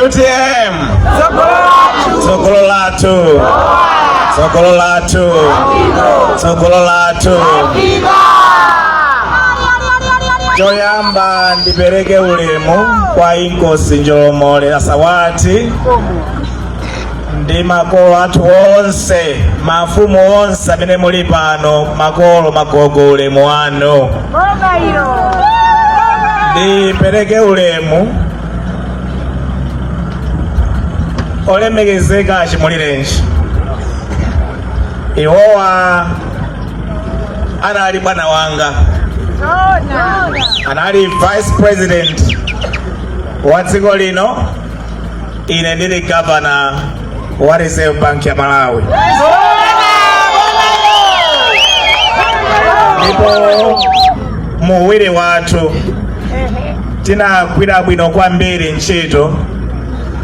utm tsogolo lathu tsogolo lathu tsogolo lathu choyamba ndipereke ulemu kwa inkosi njolomole asawati ndi makolo athu onse mafumu onse amene muli pano makolo magogo ulemu wanu ndipereke ulemu olemekezeka achimulirenji iwowa anali bwana wanga anali vice president wa dziko lino ine ndili governor wa Reserve Bank ya Malawi. Ndipo mu uwiri wathu tinagwira bwino kwambiri ntchito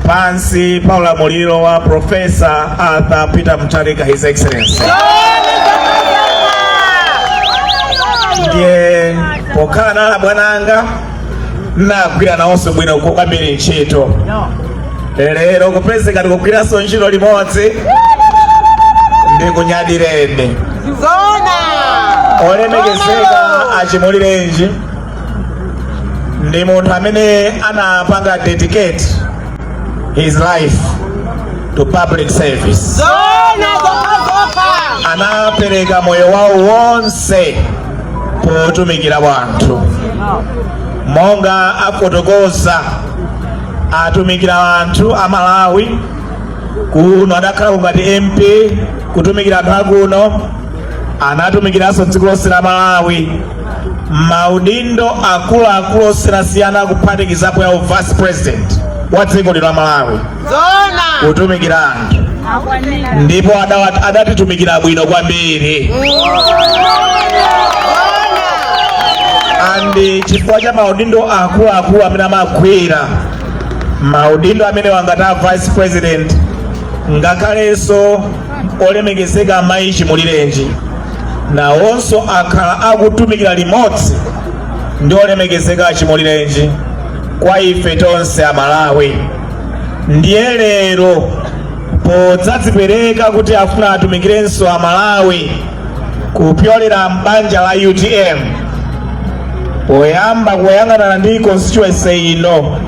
pansi pa ulamuliro wa Profesa Arthur Peter Mutharika His Excellency. Ndiye pokhala anali abwana anga nagwira nawonso bwino kwambiri ntchito lero kupezeka tikugwiranso ntchito limodzi ndikunyadireni olemekezeka achimulirenji ndi munthu amene anapanga dedicate his life to public service anapereka moyo wawo wonse potumikira wanthu monga afotokoza atumikira wanthu a malawi kuno adakhalako ngati mp kutumikira anthu akuno anatumikiranso dziko lonse la malawi maudindo akuluakulu osiyanasiyana kuphatikizapo ya u vice president wa dziko lino la malawi kutumikira anthu ndipo adawa- adatitumikira bwino kwambiri and chifukwa cha maudindo akuluakulu amene amagwira maudindo amenewa ngati a vice president ngakhalenso olemekezeka amayi chimulirenji nawonso akhala akutumikira limodzi ndi olemekezeka achimulirenji kwa ife tonse amalawi ndiye lero podzadzipereka kuti afuna atumikirenso amalawi kupyolera m'banja la utm poyamba kuyang'anana ndi constituency ino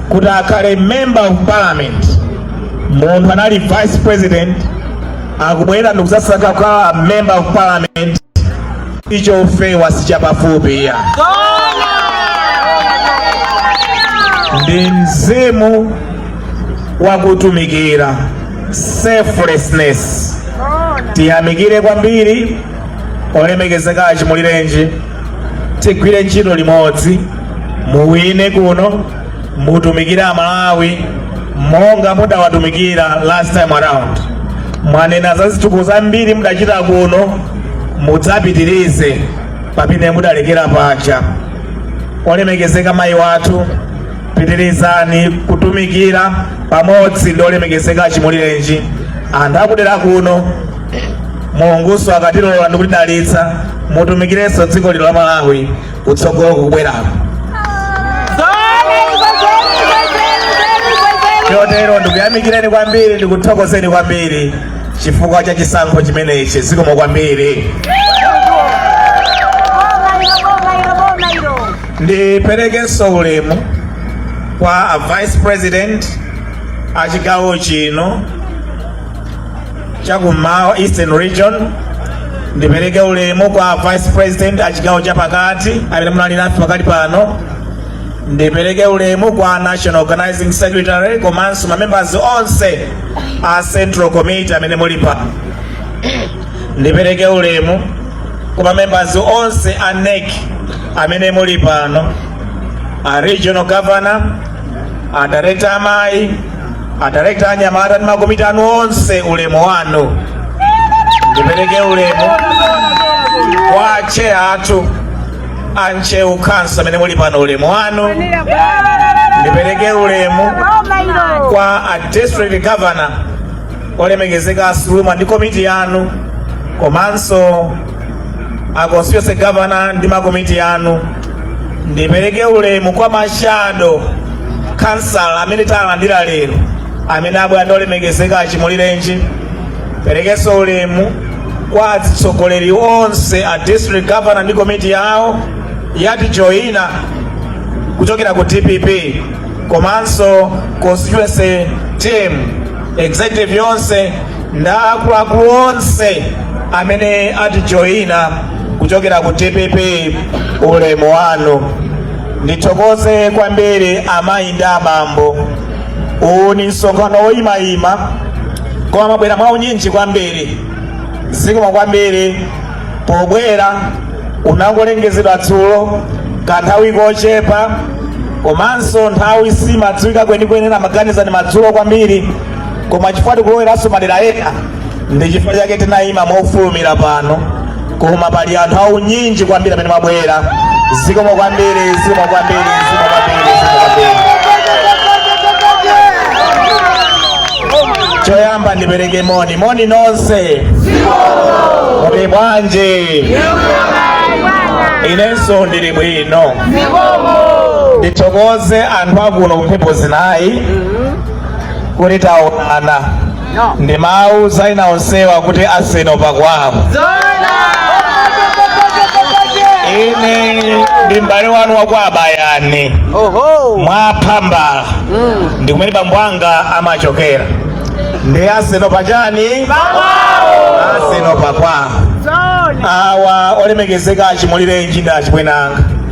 kuti akhale member of parliament munthu anali vice president akubwerera ndikudzasankha kukhala member of parliament icho ufewa sichapafupi ayi ndi mzimu wa kutumikira selflessness tiyamikire kwambiri olemekezeka achimulirenji tigwire ntchito limodzi muwine kuno mutumikire amalawi monga mudawatumikira last time around mwanena za zitukuko zambiri mudachita kuno mudzapitirize pamene mudalekera paja olemekezeka mayi wathu pitirizani kutumikira pamodzi ndi olemekezeka achimulirenji anthu akudera kuno mulungunso akatilola ndikutidalitsa mutumikirenso dziko lino la malawi kutsogolo kukubweraku chotero ndikuyamikireni kwambiri ndikuthokozeni kwambiri chifukwa cha chisankho chimenechi zikomo kwambiri ndiperekenso ulemu kwa a vice president a chigawo chino chakummawa eastern region ndipereke ulemu kwa vice president a chigawo chapakati amene muna ali nafe pakali pano ndipereke ulemu kwa national organizing secretary komanso mamembers onse a central committee amene muli pano ndipereke ulemu kwa mamembers onse a NEC amene muli pano a regional governor Adirekta amayi, adirekta anyamata ndi makomiti anu onse, ulemu wanu. Ndipereke ulemu kwa tcheya athu a Ntcheu Khanso amene muli pano, ulemu wanu. Ndipereke ulemu kwa a district governor olemekezeka a Suluma ndi komiti yanu komanso a constituency governor ndi makomiti anu ndipereke ulemu kwa mashado khansala amene talandira lero amene abwera ndolemekezeka achimulirenji perekenso ulemu kwa atsogoleri onse a district governor ndi komiti yawo yatijoina kuchokera ku dpp komanso constituency team executive yonse nda akuluakulu onse amene atijoyina kuchokera ku dpp ulemu wanu ndithokoze kwambiri amayi ndi abambo uwu ni msonkhano woyimayima koma mwabwera mwaunyinji kwambiri zikomo kwambiri pobwera unangolengezedwa dzulo kanthawi kochepa komanso nthawi simadziwika kwenikweni ena amaganiza ni madzulo kwambiri koma chifukwa tikuloweranso madera ena ndi chifukwa chake tinayima mofulumira pano koma pali anthu aunyinji kwambiri amene mwabwera zikomo kwambiri zikomo kwambiri zikomo kwambiri zikomo kwambiri choyamba ndipereke moni moni nonse muli bwanji inenso ndili bwino ndithokoze anthu akuno kumphepo zinayi kuti taonana ndi mawu zaina onsewa kuti aseno pakwawo ine ndi m'bale wanu wakwa abayani mwapha mbala ndi kumene bambo anga amachokera ndi aseno pachani aseno pakwawo awa olemekezeka achimulirenji ndi achibwenanga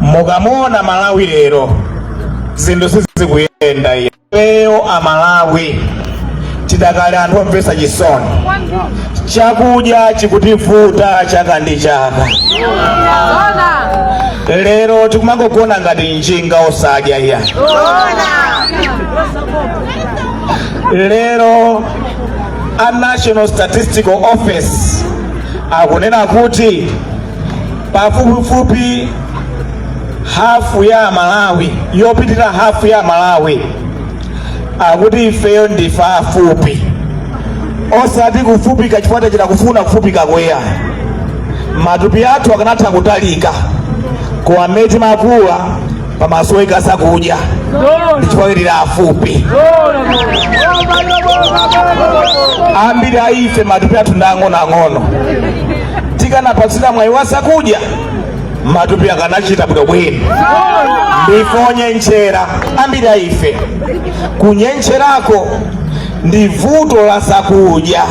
mukamuona malawi lero zinthu sizikuyenda iyayi ifeyo amalawi tidakali anthu omvetsa chisoni chakudya chikutivuta chaka ndi chaka lero tikumangogona ngati njinga osadya iyayi lero a national statistical office akunena kuti pafupifupi hafu ya Amalawi yopitira hafu ya Amalawi akuti ifeyo ndife afupi osati kufupika chifukwa tachita kufuna kufupika kweya matupi athu akanatha kutalika koma mmene timakula pamasoweka zakudya ndi chifukwa tili afupi ambiri a ife matupi athu ndi ang'onoang'ono tikanapatsidwa mwayi wa zakudya matupi akanachita bwino bwino ndife onyentchera ambiri a ife kunyentcherako ndi vuto la zakudya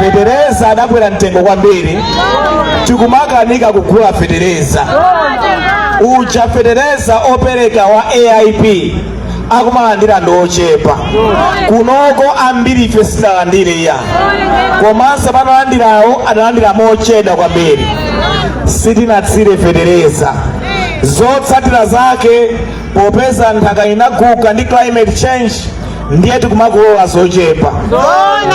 fetereza adakwera mtengo kwambiri tikumakanika kugula fetereza uja fetereza opereka wa aip akumalandira ndi ochepa kunoko ambirife sitidalandire iyayi komanso amene analandirawo adalandira mochedwa kwambiri sitinatsire fetereza zotsatira zake popeza nthaka inaguga ndi climate change ndiye tikumakolola zochepa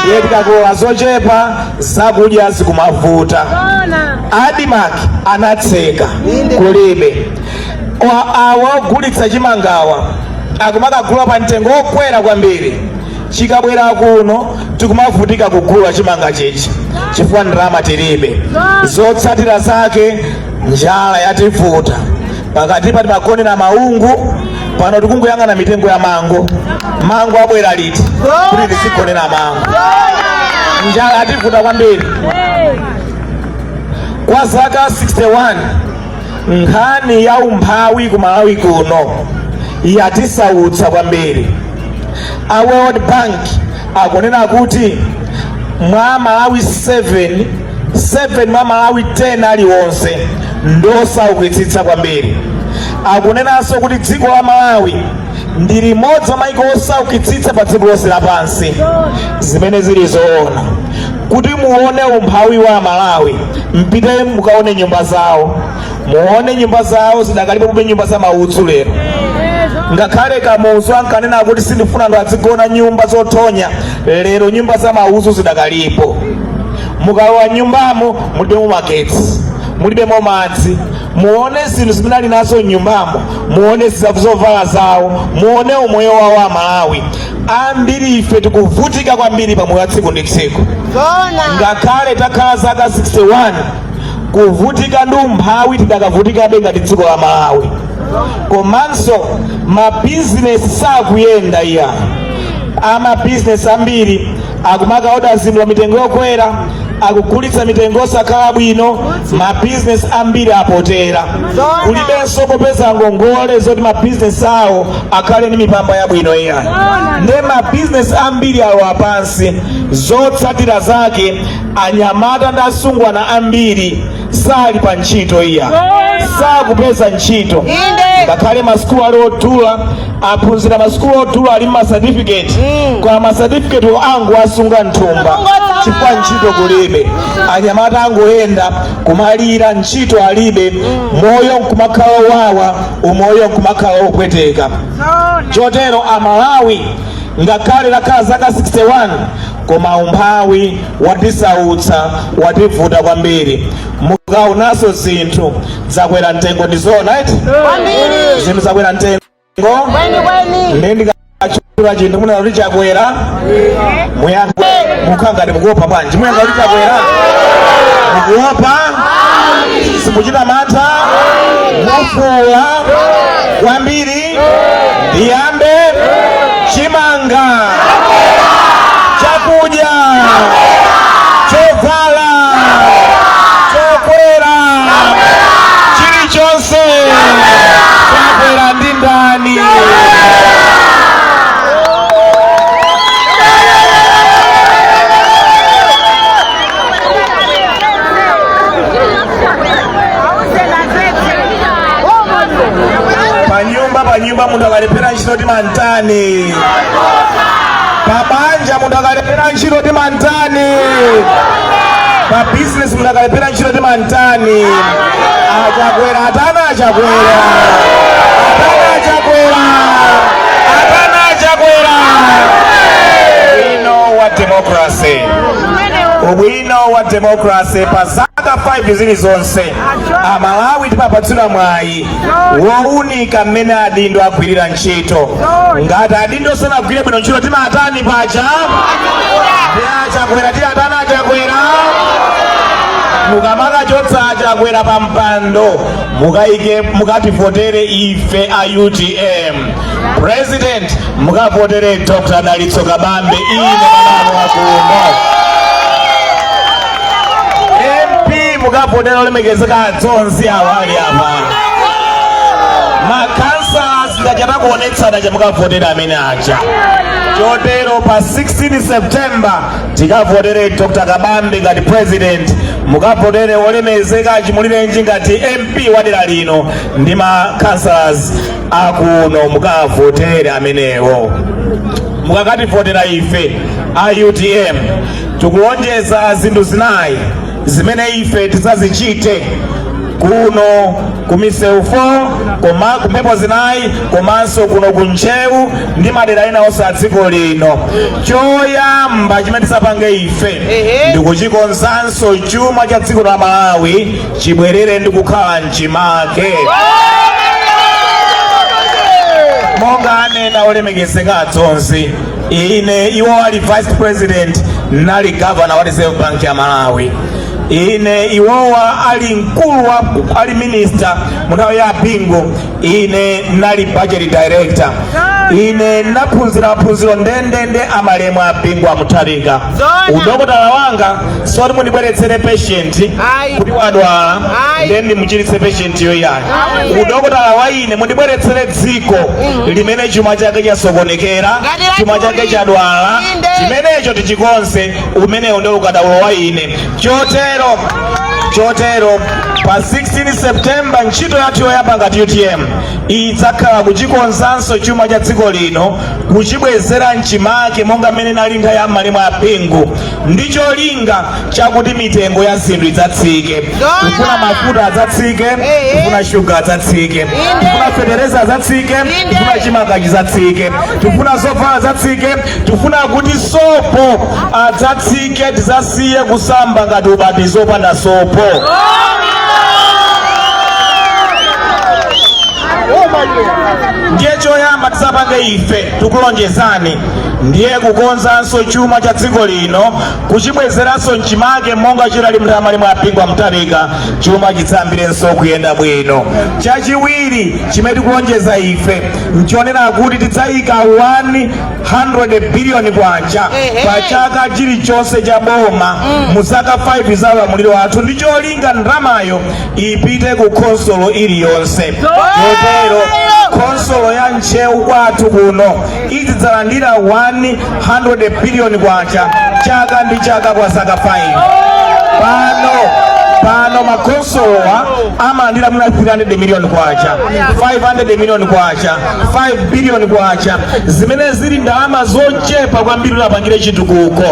ndiye tikakolola zochepa zakudya zikumavuta ADMARC anatseka kulibe awa ogulitsa chimangawa akumakagula pa mtengo wokwera kwambiri chikabwera kuno tikumavutika kugula chimanga chija chifukwa ndalama tilibe zotsatira zake njala yativuta pakatipa timagonera maungu pano tikungoyang'ana mitengo ya mango mango abwera liti kuti tizigonera mango njala yativuta kwambiri kwa zaka 61 nkhani ya umphawi ku malawi kuno yatisautsa kwambiri a world bank akunena kuti amalawi 7 7 mwa amalawi 10 aliwonse ndiosaukitsitsa kwambiri akunenanso kuti dziko la malawi ndi limodzi mwa maiko osaukitsitsa pa dziko lonse lapansi zimene zili zoona kuti muone umphawi wa amalawi mpite mukaone nyumba zawo muone nyumba zawo zidakalipobe nyumba za maudzu lero ngakhale kamuzu ankanena kuti sindifuna anthu adzigona nyumba zothonya lero nyumba za maudzu zidakalipo mukalowa m'nyumbamo mulibemo magetsi mulibemo madzi muone zinthu zimene ali nazo m'nyumbamo muone zovala zawo muone umoyo wawo amalawi ambiri ife tikuvutika kwambiri pa moyo wa tsiku ndi tsiku ngakhale takhala zaka 61 kuvutika ndi umphawi tidakavutikabe ngati dziko la malawi komanso mabizinesi sakuyenda iyayi amabizinesi ambiri akumakaoda zinthu pa mitengo yokwera akugulitsa mitengo yosakhala bwino mabizinesi ambiri apotela kulibenso kopeza ngongole zoti mabizinesi awo akhale ndi mipamba yabwino iyayi nde mabizinesi ambiri alowa pansi zotsatira zake anyamata ndi asungwana ambiri sali pa ntchito iya sakupeza ntchito ngakhale masukulu ali odula aphunzira masukulu odula ali ndi masatifiketi mm. koma masatifiketi angowasunga mthumba chifukwa ntchito kulibe anyamata akungoyenda kumalira ntchito alibe mm. moyo nkumakhala owawa umoyo nkumakhala opweteka chotero amalawi Ngakhale takhala zaka 61 koma umphawi watisautsa, wativuta kwambiri. Mukaonanso zinthu zakwera mtengo ndi zoona eti? Kwambiri. Zinthu zakwera mtengo? Kweni kweni. Ndiye ndikatchula chinthu munene kuti chakwera mukhala ngati mukuopa bwanji muyankha kuti chakwera mukuopa simuchita mantha mufuula kwambiri ndiyambe chimanga chakudya chovala chokwera chilichonse chakwera ndi ndani panyumba munthu akalephera ntchito timantani pabanja munthu akalephera ntchito timantani pa bizinesi munthu akalephera ntchito timantani achakwera atana achakwera atana achakwera atana achakwera ubwino wa demokrasi ubwino wa demokrasi pa zaka 5 zilizonse amalawi timapatsidwa mwayi wounika mmene adindo agwirira ntchito ngati adindo sanagwire bwino ntchito timatani paja achakwera tiwatani achakwera mukamakachotsa achakwera pa mpando mukativotere ife a utm president mukavotere dr dalitso kabambe ine manalo akuno mp mukavotere olemekezeka adzonzi awa ali apa makhansala ndachita kuonetsa aja mukavotere amene aja chotero pa 16 september tikavotere dr kabambe ngati president mukavotere olemekezeka chimulirenji ngati mp wa dera lino ndi ma councillors akuno mukavotere amenewo mukakativotera ife a utm tikulonjeza zinthu zinayi zimene ife tizazichite kuno ku misewu 4 koma kumphepo zinayi komanso kuno ku ntcheu ndi madera ena onse a dziko lino choyamba chimene tizapange ife ndikuchikonzanso chuma cha dziko la malawi chibwerere ndi kukhala mchimake monga anena olemekezeka adzonzi ine iwowa ali vice president nali governor wa reserve bank ya malawi ine iwowa ali mkulu wa ali minister munthawi ya bingu ine nali budget director ine naphunzira maphunziro ndendende amalemu a bingu amutharika udokotala wanga si woti mundibweretsere patient kuti wadwala nde ndimuchiritse patient yo ayi udokotala wa ine mundibweretsere dziko limene chuma chake chasokonekera chuma chake chadwala chimenecho tichikonze umenewo ndiwo ukadaulo wa ine chotero pa 16 septemba ntchito yathu yoyamba ngati utm idzakhala kuchikonzanso chuma cha dziko lino kuchibwezera mchimake monga mmene chinalili nthawi ya malemu a bingu ndi cholinga chakuti mitengo ya zinthu idzatsike tifuna mafuta adzatsike tifuna shuga adzatsike tifuna fetereza adzatsike tifuna chimanga chidzatsike tifuna zovala zidzatsike tifuna kuti sopo adzatsike Ike tizasiye kusamba ngati ubatizo opanda sopo. ndiye choyamba tizapange ife tikulonjezani ndiye kukonzanso chuma cha dziko lino kuchibwezeranso mchimake monga chidali mnthawi ya malemu a Bingu wa Mutharika chuma chidzayambirenso kuyenda bwino chachiwiri chimene tikulonjeza ife nchonena kuti tidzayika 1 100 biliyoni kwacha pa chaka chilichonse cha boma mu zaka 5 za ulamuliro wathu ndi cholinga ndalamayo ipite ku khonsolo iliyonse chotero khonsolo ya ntcheu kwathu kuno izidzalandira 100 biliyoni kwacha chaka ndi chaka kwa zaka 5 pano pano makhonsolowa amalandira mwina 300 miliyoni kwacha 500 miliyoni kwacha 5 billion kwacha zimene zili ndalama zochepa kwambiri kuti apangire chitukuko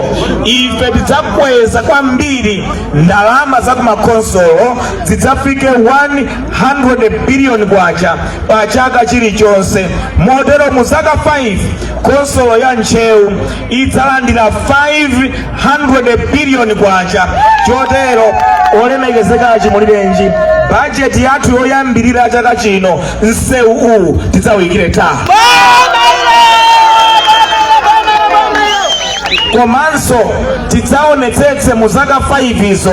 ife tidzakweza kwambiri ndalama za kumakonsolo zidzafike 100 billion kwacha pa chaka chilichonse motero mu zaka 5 konsolo ya ntcheu idzalandira 500 billion kwacha chotero olemekezeka a Chimulirenji bajeti yathu yoyambirira chaka chino msewu uwu tidzawuyikire tala komanso tidzaonetsetse mu zaka 5 izo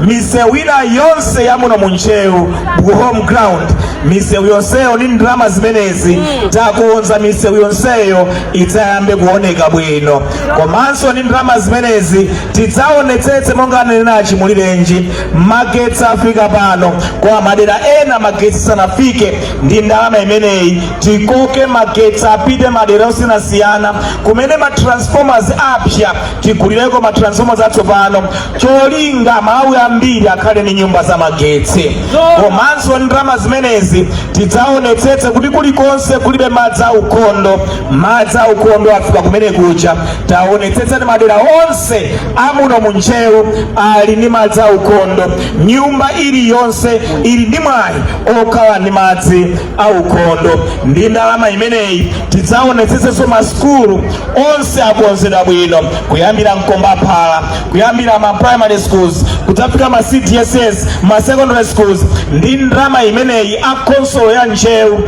misewu ina yonse ya muno mu ntcheu ku home ground misewu yonseyo ndi ndalama zimenezi takonza misewu yonseyo idzayambe kuoneka bwino komanso ndi ndalama zimenezi tidzaonetsetse monga ananena a Chimulirenji magetsi afika pano koma madera ena magetsi sanafike ndi ndalama imeneyi tikoke magetsi apite madera osiyanasiyana kumene ma transformers apsa tigulireko ma transformers atsopano cholinga amalawi ambiri akhale ndi nyumba za magetsi komanso ndi ndalama zimenezi tidzaonetsetse kuti kulikonse kulibe madzi aukhondo madzi aukhondo afika kumene kuja taonetsetsa kuti madera onse amuno mu Ntcheu ali ndi madzi aukhondo. Nyumba iliyonse ili ndi mwayi okhala ndi madzi aukhondo. Ndi ndalama imeneyi tidzaonetsetsenso masukulu onse akonzedwa bwino kuyambira mkombaphala kuyambira ma primary schools kudzafika ma CDSS ma secondary schools. Ndi ndalama imeneyi a khonsolo ya Ntcheu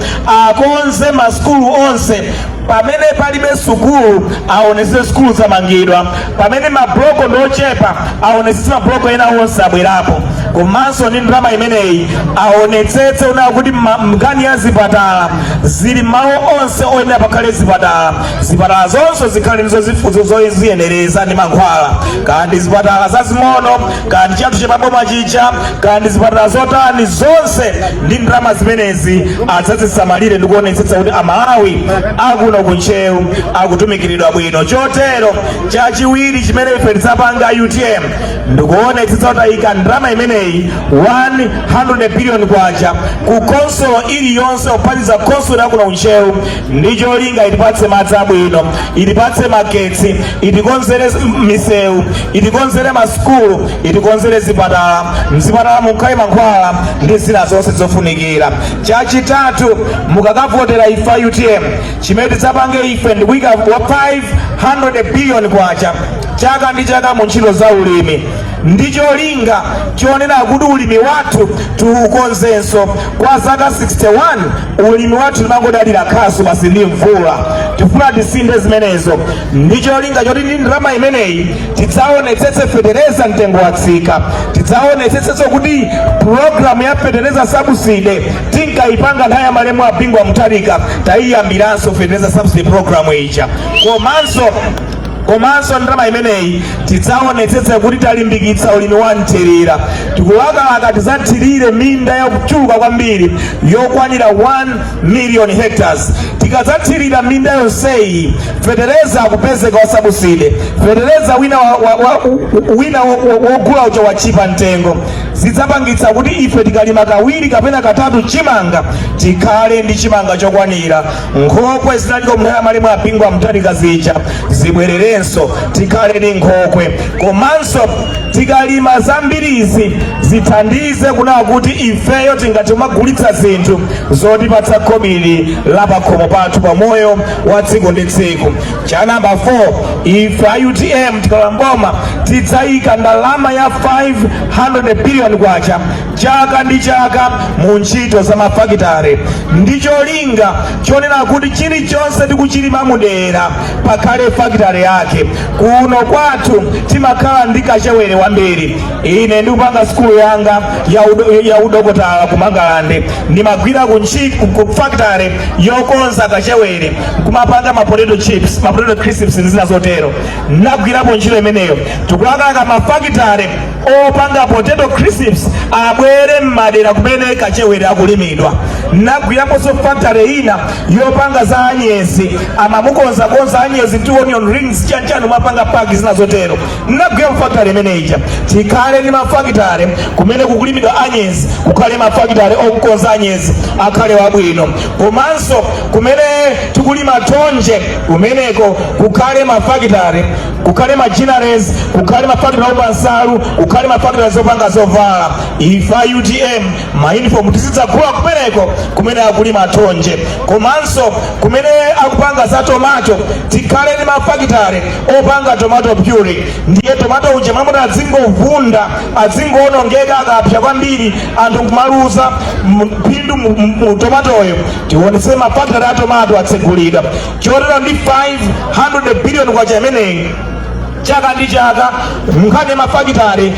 akonze masukulu onse pamene palibe sukulu aonetsetse sukulu zamangidwa pamene mabloko ndi ochepa aonetsetse mabloko ena onse abwerapo komanso ndi ndalama imeneyi aonetsetse kunena kuti ma- nkhani ya zipatala zili malo onse oyenera pakhale zipatala zipatala zonse zikhale ndi zo- zifunzo zoziyenereza ndi mankhwala kaya ndi zipatala zazing'ono kaya ndi chathu cha paboma chija kaya ndi zipatala zotani zonse ndi ndalama zimenezi adzazisamalire ndi kuonetsetsa kuti amalawi akuno ku Ntcheu akutumikiridwa bwino chotero chachiwiri chimene ife tidzapanga utm ndikuonetsetsa kuti ayika ndalama imeneyi 100 billion kwacha ku khonsolo iliyonse ophatikiza khonsolo yakuno ku Ntcheu ndi cholinga itipatse madzi abwino itipatse magetsi itikonzere s- m- misewu itikonzere masukulu itikonzere zipatala mzipatala mukhale mankhwala ndi zina zonse zofunikira chachitatu mukakavotera ife a utm chimene tidzapange ife ndi kuyika wa 500 billion kwacha chaka ndi chaka mu ntchito za ulimi ndi cholinga chonena kuti ulimi wathu tiukonzenso kwa zaka 61 ulimi wathu timangodalira khasu basi ndi mvula tifuna tisinthe zimenezo ndi cholinga choti ndi ndalama imeneyi tidzaonetsetse fetereza mtengo watsika tidzaonetsetsenso kuti pulogalamu ya fetereza sabuside tinkayipanga nthawi ya malemu a bingu wa mutharika tayiyambiranso fetereza sabuside pulogalamu ija komanso komanso ndalama imeneyi tidzaonetsetse kuti talimbikitsa ulimi wa mthirira tikulakalaka tidzathirire minda yochuluka kwambiri yokwanira 1 million hectares tikadzathirira minda yonseyi fetereza akupezeka wasabuside fetereza wina wa- wa- wa- u- wina wo- wo- wogula uja watchipa mtengo zidzapangitsa kuti ife tikalima kawiri kapena katatu chimanga tikhale ndi chimanga chokwanira nkhokwe zinaliko mnthawi ya malemu a bingu wa mutharika zija zibwererenso tikhale ni nkhokwe komanso tikalima zambirizi zithandize kunena kuti ifeyo tingati kumagulitsa zinthu zotipatsa khobiri la pakhomo pathu pa moyo wa tsiku ndi tsiku cha namba 4 ife a utm tikalowa m'boma tidzayika ndalama ya 500 billion kwacha chaka ndi chaka mu ntchito za mafakitare ndi cholinga chonena kuti chilichonse tikuchilima mudera pakhale fakitare yake kuno kwathu timakhala ndi kachewere wambiri ine ndikupanga sikulu yanga ya udo- ya udokotala ku mangalande ndimagwira ku ntchi- ku- ku fakitare yokonza kachewere kumapanga ma potato chips ma potato crisps ndi zina zotero ndagwirapo ntchito imeneyo tikulakalaka mafakitare opanga potato crisps abwere m'madera kumene kachewere akulimidwa ndagwiraponso factory ina yopanga za anyezi amamukonzakonza anyezi ndi onion rings chanchani mwapanga paki zina zotero ndagwirapo factory imene ija tikhale ndi mafakitare kumene kukulimidwa anyezi kukhale mafakitare okukonza anyezi akhale wabwino komanso kumene tikulima thonje kumeneko kukhale mafakitare kukhale ma ginneries kukhale mafakitale opanga nsalu kukhale mafakitale zopanga zovala ife a utm mayunifomu tizidzagula kumeneko kumene akulima thonje komanso kumene akupanga za tomato tikhale ndi mafakitale opanga tomato puree ndiye tomato uja m'mamuona adzingovunda adzingoonongeka akapsa kwambiri anthu kumaluza phindu mu tomatoyo tionetse mafakitale a tomato atsegulidwa chotero ndi 500 billion kwacha imeneyi chaka ndi chaka nkhani ya mafakitale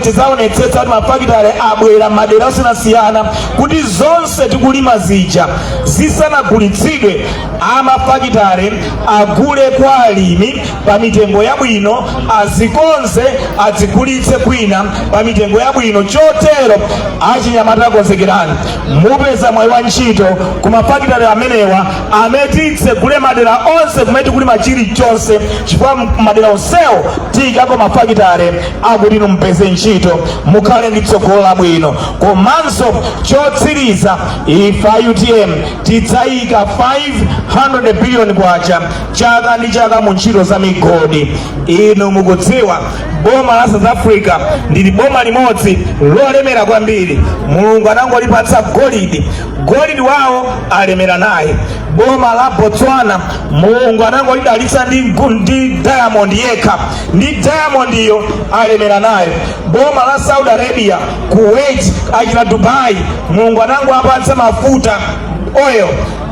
tidzaonetsetsa kuti mafakitale abwera madera osiyanasiyana kuti zonse tikulima zija zisanagulitsidwe amafakitale agule kwa alimi pa mitengo yabwino azikonze adzigulitse kwina pa mitengo yabwino chotero achinyamata konzekerani mupeza mwayi wa ntchito ku mafakitale amenewa amene titsegule madera onse kumene tikulima chilichonse chifukwa madera onsewo tiyikako mafakitale akuti inu mupeze ntchito mukhale ndi tsogolo labwino komanso chotsiriza ife a utm tidzayika 500 biliyoni kwacha chaka ndi chaka mu ntchito za migodi inu mukudziwa boma la south africa ndi boma limodzi lolemera kwambiri mulungu anangolipatsa golidi golidi wawo alemera naye boma la botswana mulungu anangolidalitsa ndi, ngu- ndi diamond yekha ndi diamondiyo alemera nayo boma la saudi arabia kuwait achina dubai mulungu anangowapatsa mafuta oil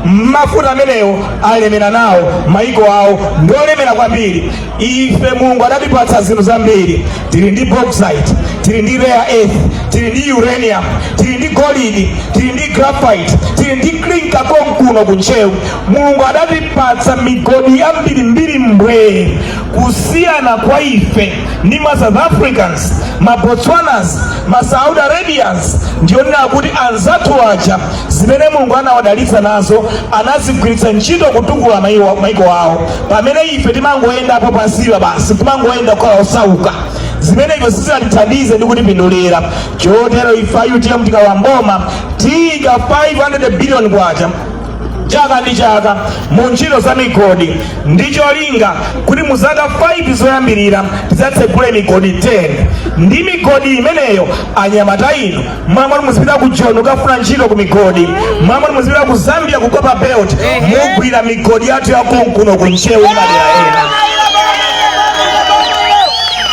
mafuta amenewo alemera nawo maiko awo ndiolemera kwambiri ife mulungu adatipatsa zinthu zambiri tili ndi bauxite tili ndi rare earth tili ndi uranium tili ndi golidi tili ndi graphite tili ndi clinker konkuno ku ntcheu mulungu adatipatsa migodi yambirimbiri mbwee kusiyana kwa ife ndi ma south africans ma botswanas ma saudi arabians ndi yonena kuti anzathu aja zimene mulungu anawadalitsa nazo anazigwiritsa ntchito kutukula maiko awo pamene ife timangoyendapo pansipa basi timangoyenda kukhala osauka zimenezo sizingatithandize ndi kutipindulira chotero ife a utm tikalowa m'boma tiika 500 billion kwacha chaka ndi chaka mu ntchito za migodi ndi cholinga kuti mu zaka 5 zoyambirira tidzatsegule migodi 10 ndi migodi imeneyo anyamata inu m'malo moti muzipita ku joni kukafuna ntchito ku migodi m'malo moti muzipita ku zambia ku copper belt mugwira migodi yathu yakonkuno ku ntcheu madera ena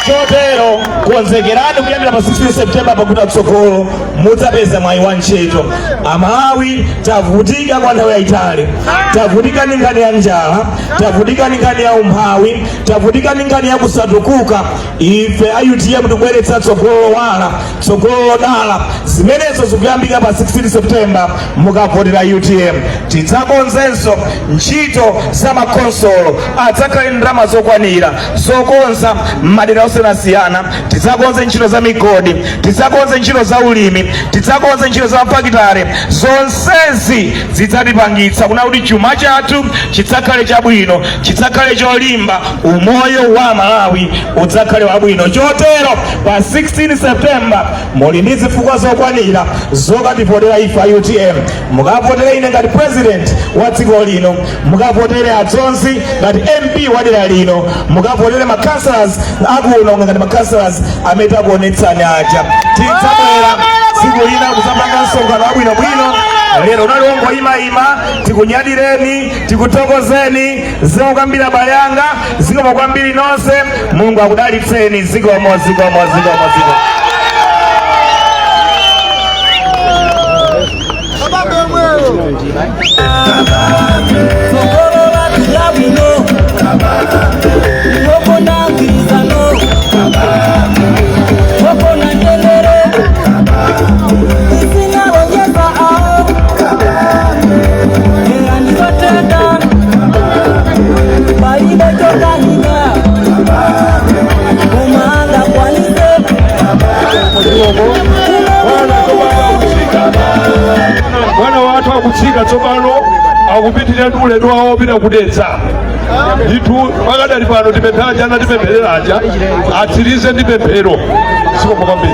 chotero konzekerani kuyambira pa 16 septemba pakuti tsogolo mudzapeza mwayi wa ntchito amalawi tavutika kwa nthawi yayitali tavutika ndi nkhani ya njala tavutika ndi nkhani ya umphawi tavutika ndi nkhani ya kusatukuka ife a utm tikubweretsa tsogolo lowala tsogolo lodala zimenezo zikuyambika pa 16 september mukavotera utm tidzakonzenso ntchito za makhonsolo adzakhale ndalama zokwanira zokonza m'madera osiyanasiyana tidzakonze ntchito za migodi tidzakonze ntchito za ulimi tidzakonze ntchito za mafakitale zonsezi zidzatipangitsa kunena kuti chuma chathu chidzakhale chabwino chidzakhale cholimba umoyo wa aMalawi udzakhale wabwino. Chotero pa 16 September muli ndi zifukwa zokwanira zokativotera ife a UTM. Mukavotere ine ngati president wa dziko lino, mukavotere a Dzonzi ngati MP wa dera lino, mukavotere ma councillors akuno ngati ma councillors amene takuonetsani aja. Tidzabwera tsiku lina kudzapanga msonkhano wabwinobwino lero unali ongoyimayima tikunyadireni tikuthokozeni zikomo kwambiri abale anga zikomo kwambiri nonse mulungu akudalitseni zikomo zikomo zikomo zikomo mwana wathu akutsika tsopano akupitirira ndi ulendo wawo wopita ku dedza ndithu pakadali pano tipempha aja anatipempherera aja atsirize ndi pemphero zikomo kwambiri